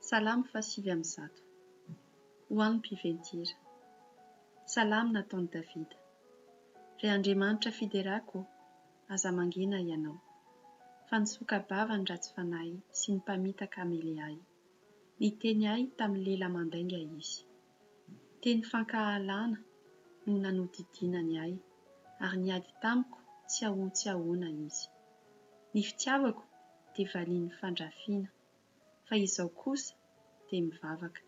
Salamo faha sivy amby zato. Ho an'ny mpiven-tira. Salamo nataon'i Davida. Ry Andriamanitra fiderako ô, aza mangina Ianao, fa ny soka-bava ny ratsy fanahy sy ny mpamitaka hamely ahy. Niteny ahy tamin'ny lela mandainga Izy. Teny fankahalana no nanodidinany ahy, ary niady tamiko tsy ahoan-tsiahoana izy. Ny fitiavako dia valian'ny fandrafiana, fa izao kosa dia mivavaka.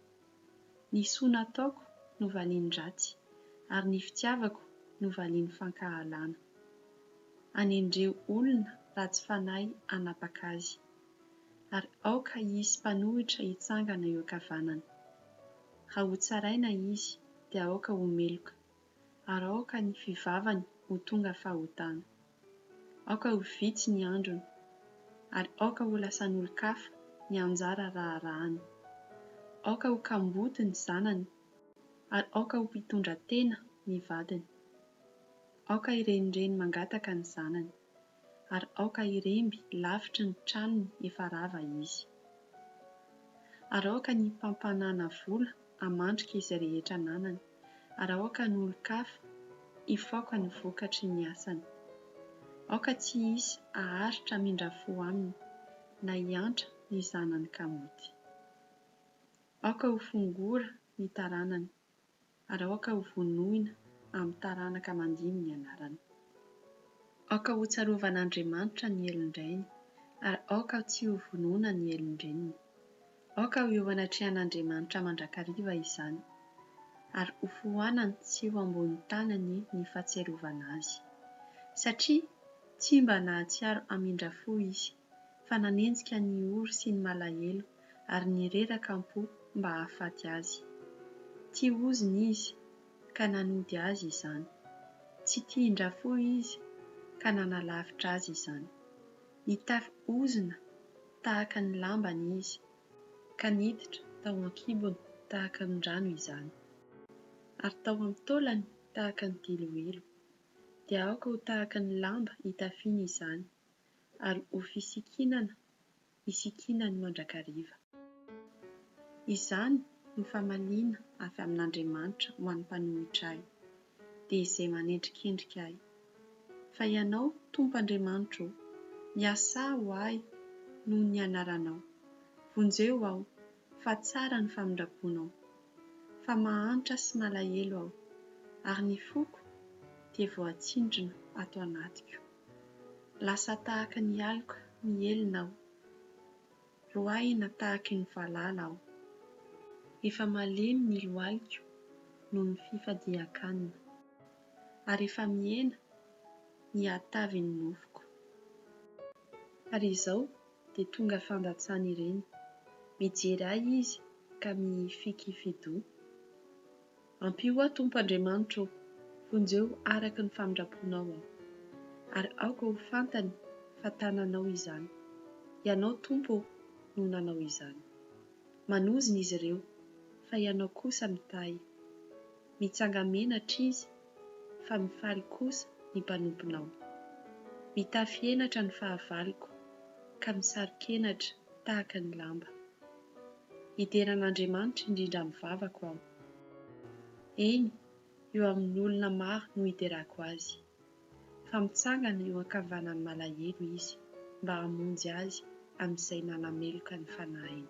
Ny soa nataoko no valian'ny ratsy, ary ny fitiavako no valian'ny fankahalana. Anendreo olona ratsy fanahy hanapaka azy. ary aoka hisy mpanohitra hitsangana eo ankavanany. Raha hotsaraina izy, dia aoka ho meloka, ary aoka ny fivavany ho tonga fahotana. Aoka ho vitsy ny androny, ary aoka ho lasan'olon-kafa ny anjara raharahany. Aoka ho kamboty ny zanany, ary aoka ho mpitondratena ny vadiny. Aoka hirenireny mangataka ny zanany, ary aoka hiremby lavitry ny tranony efa rava izy. Ary aoka ny mpampanana vola hamandrika izay rehetra ananany, ary aoka ny olon-kafa hifaoka ny vokatry ny asany. Aoka tsy hisy haharitra hamindra fo aminy, na hiantra ny zanany kamaoty. Aoka ho fongora ny taranany. ary aoka ho vonoina amin'ny taranaka mandimby ny anarany. Aoka hotsarovan'Andriamanitra ny helin-drainy, ary aoka tsy ho vonoina ny helin-dreniny. Aoka ho eo anatrehan'Andriamanitra mandrakariva izany, ary hofoanany tsy ho ambony tanany ny fahatsiarovana azy. Satria tsy mba nahatsiaro hamindra fo izy. fa nanenjika ny ory sy ny malahelo ary nireraka am-po mba hahafaty azy. Tia ozona izy, ka nanody azy izany. Tsy tian-dRafohy izy, ka nanalavitra azy izany. Nitafy ozona tahaka ny lambany izy, ka niditra tao an-kibony tahaka ny rano izany, ary tao amin'ny taolany tahaka ny diloilo. Dia aoka ho tahaka ny lamba itafiany izany, ary ho fisikinana isikinany mandrakariva. Izany no famaliana avy amin'Andriamanitra ho an'ny mpanohitra Ahy, dia izay manendrikendrika Ahy. Fa Ianao, Tompo Andriamanitro ô, miasà ho Ahy noho ny anaranao. Vonjeo aho, fa tsara ny famindraponao. Fa mahantra sy malahelo aho, ary ny foko dia voatsindrona ato anatiko. Lasa tahaka ny aloka mihelina aho. Roahina tahaky ny valala aho. Efa malemy ny lohaliko noho ny fifadian-kanina. Ary efa mihena ny hatavin'ny nofoko. Ary izao dia tonga fandatsany ireny. Mijery ahy izy ka mihifikifi-doha. Ampio aho Tompo Andriamanitra ô, vonjeo araka ny famindram-ponao aho, ary aoka ho fantany fa tananao izany. Ianao Tompo ô no nanao izany. Manozona izy ireo, fa Ianao kosa mitahy. Mitsanga-menatra izy, fa mifaly kosa ny mpanomponao. Mitafy henatra ny fahavaloko, ka misaro-kenatra tahaka ny lamba. Hidera an'Andriamanitra indrindra amin'ny vavako aho. Eny, eo amin'ny olona maro no hiderako azy. Fa mitsangana eo an-kavanan'ny malahelo izy mba hamonjy azy amin'izay manameloka ny fanahiny.